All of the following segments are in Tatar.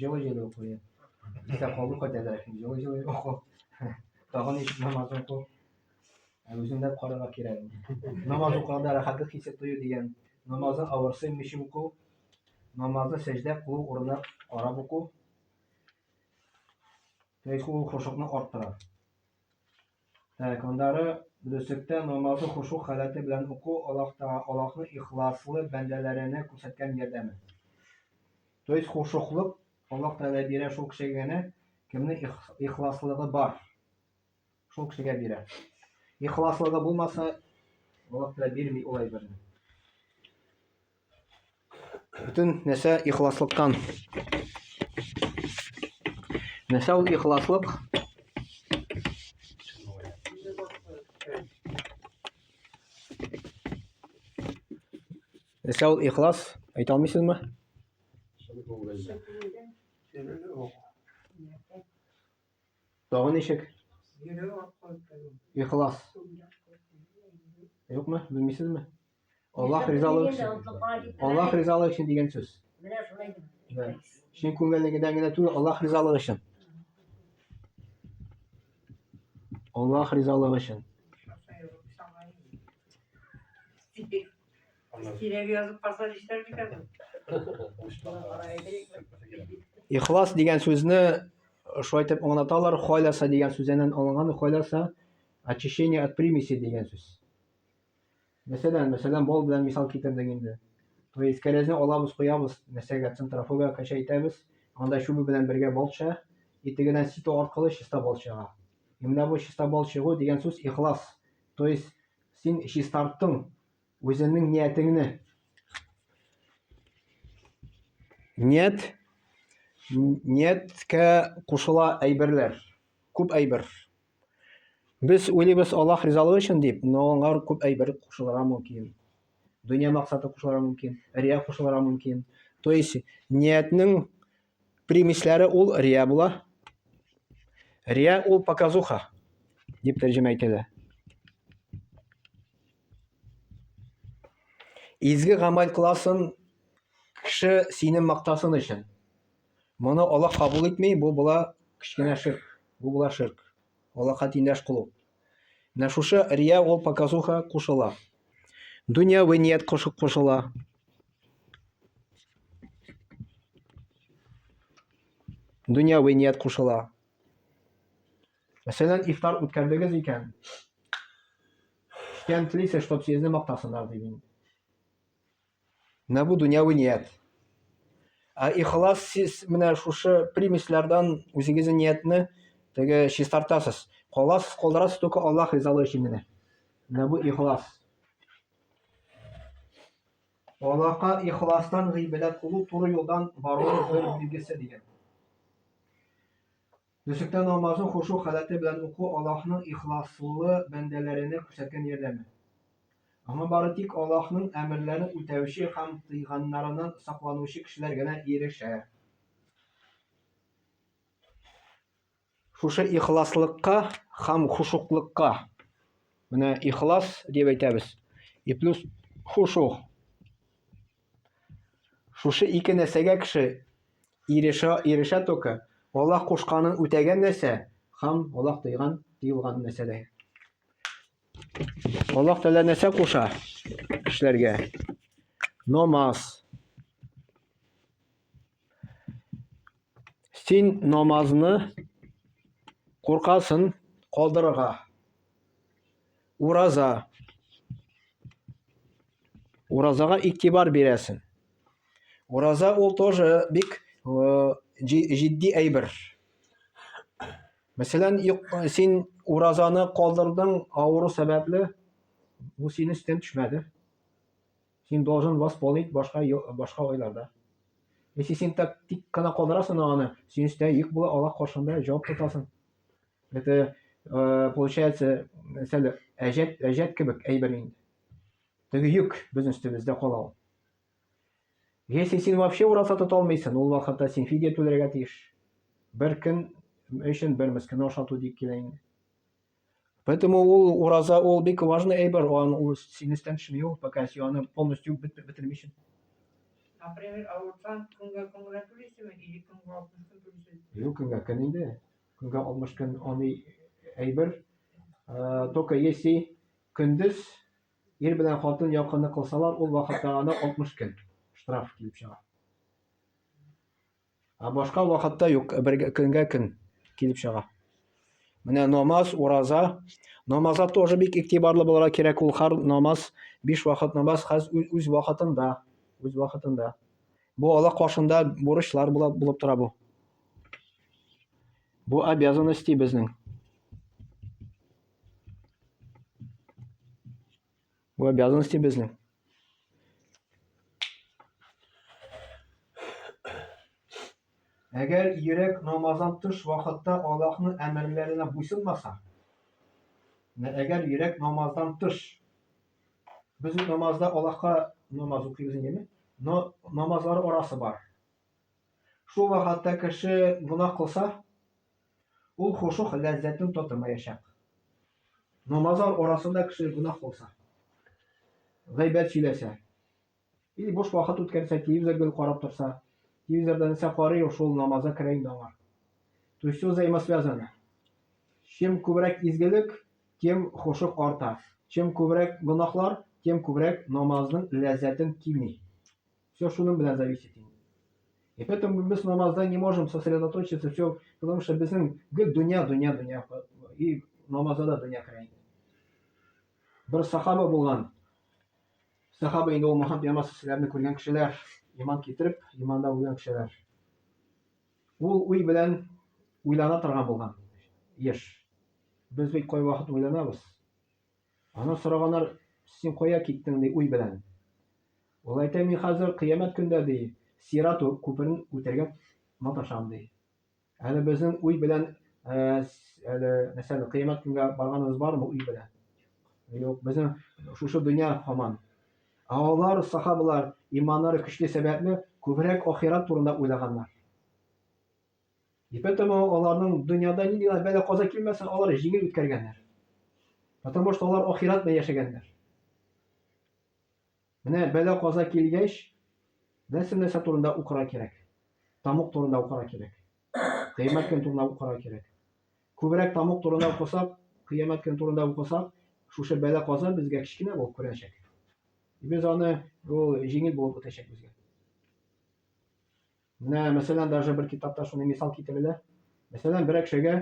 Җылы җылы укый. Исә калу кайтәдә. Җылы җылы уку. Тагын еш намаз уку. Ә үзендә карарга кирәк. Намаз укыганда рәхәтлек хисе тою дигән. Намазны авырсый мичи уку. Намазны сәҗдә кылу урына карап уку. Тәйкү ул хошукны арттыра. Так, аннары дөреслектә намазы хошуг халәте белән уку Аллаһ Таа, Аллаһның ихласлы бәндәләренә күрсәткән ярдәме. То есть хошуглык Аллаһ Тәгалә бирә шул кешегә генә, кемнең ихласлыгы бар, шул кешегә бирә. Ихласлыгы булмаса, Аллаһ Тәгалә бирми ул әйберне. Бөтен нәрсә ихласлыктан. Нәрсә ул ихласлык? Нәрсә ул ихлас? Әйтә алмыйсызмы? Тагын ничек? Ихлас. Юкмы? Белмисезме? Аллах ризалыгы өчен. Аллах ризалыгы өчен дигән сүз. Менә шулай дип. Чын күңеллегедән генә түгел, Аллах ризалыгы өчен. Аллах ризалыгы өчен. Кирәк язып калса нишләр икән? Ихлас дигән сүзне шулай итеп аңлаталар, хайласа дигән сүздән алынган, хайласа очищение от примеси дигән сүз. Мәсәлән, мәсәлән, бал белән мисал китердек инде. То есть кәрәзне алабыз, куябыз, нәрсәгә центрофуга кача итәбез, анда чүбе белән бергә бал төшә, и тегедән сито аркылы чиста бал чыга. И менә бу чиста бал чыгу дигән сүз ихлас. То есть син чистарттың үзеңнең ниятеңне. Ният нияткә кушыла әйберләр, күп әйбер. Без уйлыйбыз Аллаһ ризалыгы өчен дип, но аңа күп әйбер кушылырга мөмкин. Дөнья максаты кушылырга мөмкин, рия кушылырга мөмкин. То есть ниятнең примесләре ул рия була. Рия ул показуха дип тәрҗемә ителә. Изге гамәл кыласын кеше сине мактасын өчен. Моны Аллаһ кабул итми, бу була кечкенә ширк. Бу була ширк. Аллаһка тиңдәш кылу. Менә шушы рия ул показуха кушыла. Дөньяви ният кушып кушыла. Дөньяви ният кушыла. Мәсәлән, ифтар үткәрдегез икән. Кем телисез, чтобы сезне мактасыннар, ди мин. Менә бу дөньяви ният. Ә ихлас сез менә шушы примесләрдән үзегезнең ниятне теге чистартасыз. Каласыз, калдырасыз только Аллаһ ризалыгы өчен генә. Менә бу ихлас. Аллаһка ихластан гыйбадәт кылу туры юлдан бару бер билгесе дигән. Төшектә намазын хошу халәте белән уку Аллаһның ихласлы бәндәләренә күрсәткән ярдәме. Аңа бары тик Аллаһның әмерләрен үтәүче һәм тыйганнарыннан сакланучы кешеләр генә ирешә. Шушы ихласлыкка һәм хушуклыкка, менә ихлас дип әйтәбез, и плюс хушу, Шушы ике нәрсәгә кеше ирешә, ирешә только, Аллаһ кушканын үтәгән нәрсә һәм Аллаһ тыйган, тыелган нәрсәдә. Аллаһ Тәгалә нәрсә куша кешеләргә? Намаз. Син намазны куркасын калдырырга. Ураза. Уразага игътибар бирәсен. Ураза ул тоже бик э, җитди әйбер. Мәсәлән, син уразаны калдырдың авыру сәбәпле, бу сине өстен төшмәде. Син должен восполнить башка башка айларда. Если син так тик кына калдырасың аны, син өстә йөк була Аллах каршында җавап тотасың. Это э, получается, сәл әҗәт әҗәт кебек әйбер инде. Теге йөк безнең өстебездә кала ул. Если син вообще ураса тота алмыйсың, ул вакытта син фидия түләргә тиеш. Бер көн өчен бер мескене ашату дип килә инде. Поэтому ул ураза ул бик важный әйбер, ан ул сине өстән төшми ул, пока син аны полностью бетерми өчен. Например, авырсаң, көнгә көн генә түлисеңме, или көнгә 60 көн түлисең? Юк, көнгә көн инде. Көнгә 60 көн аны әйбер. Э, только если көндез ир белән хатын якынны кылсалар, ул вакытта аны 60 көн штраф килеп чыга. Ә башка вакытта юк, бер көнгә көн килеп чыга. Менә намаз, ураза. Намаза тоже бик игътибарлы булырга кирәк. Ул хар намаз, биш вакыт намаз хәз үз вакытында, үз вакытында. Бу Аллаһ каршында бурычлар була булып тора бу. Бу обязанности безнең. Бу обязанности безнең. Әгәр йөрәк намаздан тыш вакытта Аллаһның әмерләренә буйсынмаса, әгәр йөрәк намаздан тыш, без намазда Аллаһка намаз укыйбыз инде, но намазлар арасы бар. Шул вакытта кеше гына кылса, Ул хошух ләззәтен татымаячак. Намазлар арасында кеше гөнаһ кылса, гайбәт сөйләсә, или буш вакыт үткәрсә, телевизор гел карап торса, телевизорда нәрсә карый ул, шул намазга керә инде аңа. То есть все взаимосвязано. Чем күбрәк изгелек, тем хошух арта. Чем күбрәк гөнаһлар, тем күбрәк намазның ләззәтен кими. Все шуның белән зависит инде. И поэтому без намазда не можем сосредоточиться, все, потому что безнең гел дөнья, дөнья, дөнья. И намазда да дөнья керә инде. Бер сахаба булган. Сахаба инде ул Мухаммад Ямас сүзләрне күргән кешеләр, иман китереп, иманда үлгән кешеләр. Ул уй белән уйлана торган булган. Еш. Без бит кай вакыт уйланабыз? Аны сораганнар, Син кая киттең? ди уй белән. Ул әйтә, Мин хәзер кыямәт көндә, ди, Сират күперен үтәргә маташам, ди. Әле безнең уй белән әле мәсәлән кыямәт көнгә барганыбыз бармы уй белән? Юк, безнең шушы дөнья һаман. Ә алар, сахабалар, иманнары көчле сәбәпле, күбрәк ахират турында уйлаганнар. И поэтому аларның дөньяда нинди генә бәла каза килмәсен, алар җиңел үткәргәннәр. Потому что алар ахират белән яшәгәннәр. Менә бәла каза килгәч, нәрсә нәрсә турында укыра кирәк? Тамук турында укыра кирәк. Кыямәт көн турында укыра кирәк. Күбрәк тамук турында укысак, кыямәт көн турында укысак, шушы бәла каза безгә кечкенә булып күренәчәк. Без аны ул җиңел булып үтәчәк безгә. Менә, мәсәлән, даже бер китапта шуны мисал китерелә. Мәсәлән, бер әкшәгә,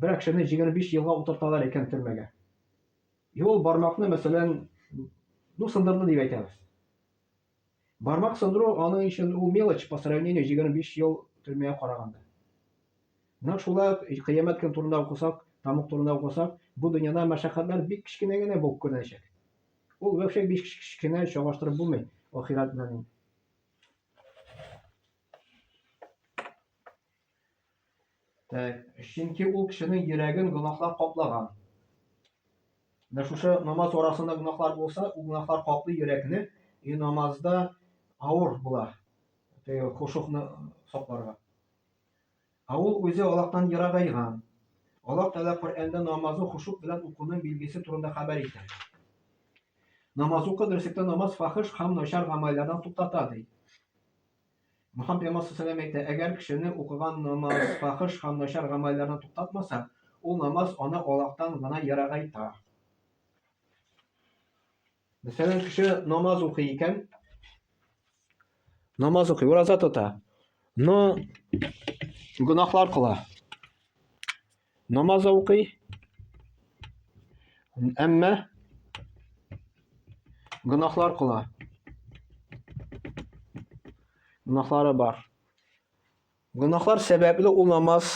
бер әкшәне 25 елга утырталар икән төрмәгә. И ул бармакны, мәсәлән, ну, сындырды дип әйтәбез. Бармак сындыру аның өчен ул мелочь по сравнению 25 ел төрмәгә караганда. Менә шулай ук кыямәт көн турында укысак, тамук турында укысак, бу дөньяда мәшәкатьләр бик кечкенә генә булып күренәчәк. Ул вообще бик кечкенә чагыштырып булмый ахират белән. Чөнки ул кешенең йөрәген гөнаһлар каплаган. Менә шушы намаз арасында гөнаһлар булса, ул гөнаһлар каплы йөрәкне и намазда авыр була. Теге хушукны сакларга. Ә ул үзе Аллаһтан ерагайган. Аллаһ Тәгалә Коръәндә намазны хошук белән укуның билгесе турында хәбәр итә. Намаз укы, дөреслектә намаз фахиш һәм начар гамәлләрдән туктата, ди. Мөхәммәд пәйгамбәр саллаллаху алейһи әйтә, әгәр кешене укыган намаз фахиш һәм начар гамәлләрдән туктатмаса, ул намаз аны Аллаһтан гына ерагайта. Мәсәлән, кеше намаз укый икән, намаз укый, ураза тота, но гөнаһлар кыла. Намаз укый, әмма гөнаһлар кыла. Гөнаһлары бар. Гөнаһлар сәбәпле ул намаз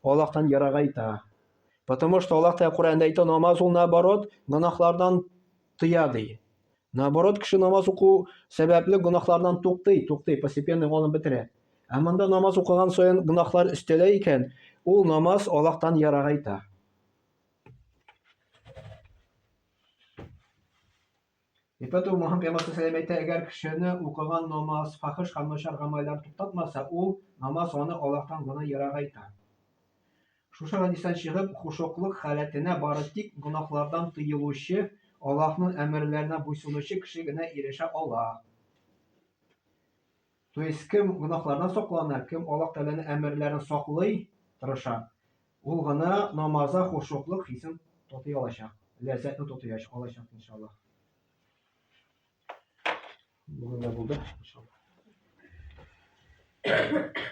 Аллаһтан ерагайта. Потому что Аллаһ Тәгалә Коръәндә әйтә, намаз ул наоборот гөнаһлардан тыя ди. Наоборот, кеше намаз уку сәбәпле гөнаһлардан туктый, туктый, постепенно югалып бетерә. Ә монда намаз укыган саен гөнаһлар өстәлә икән, ул намаз Аллаһтан ерагайта. Итә ту Мухаммед пәйгамбәр сәләм әйтә, әгәр кешене укыган намаз, фахиш һәм начар гамәлләр туктатмаса, ул намаз аны Аллаһтан гына ерагайта. Шушы хадистан чыгып, хушуклык халәтенә бары тик гөнаһлардан тыелучы, Аллаһның әмерләренә буйсынучы кеше генә ирешә ала. То есть кем гөнаһлардан саклана, кем Аллаһ Тәгаләнең әмерләрен саклый, тырыша, ул гына намазда хушуклык хисен татый алачак, ләззәтне татый алачак, иншаллаһ. Бүгенгә булды, иншаллаһ.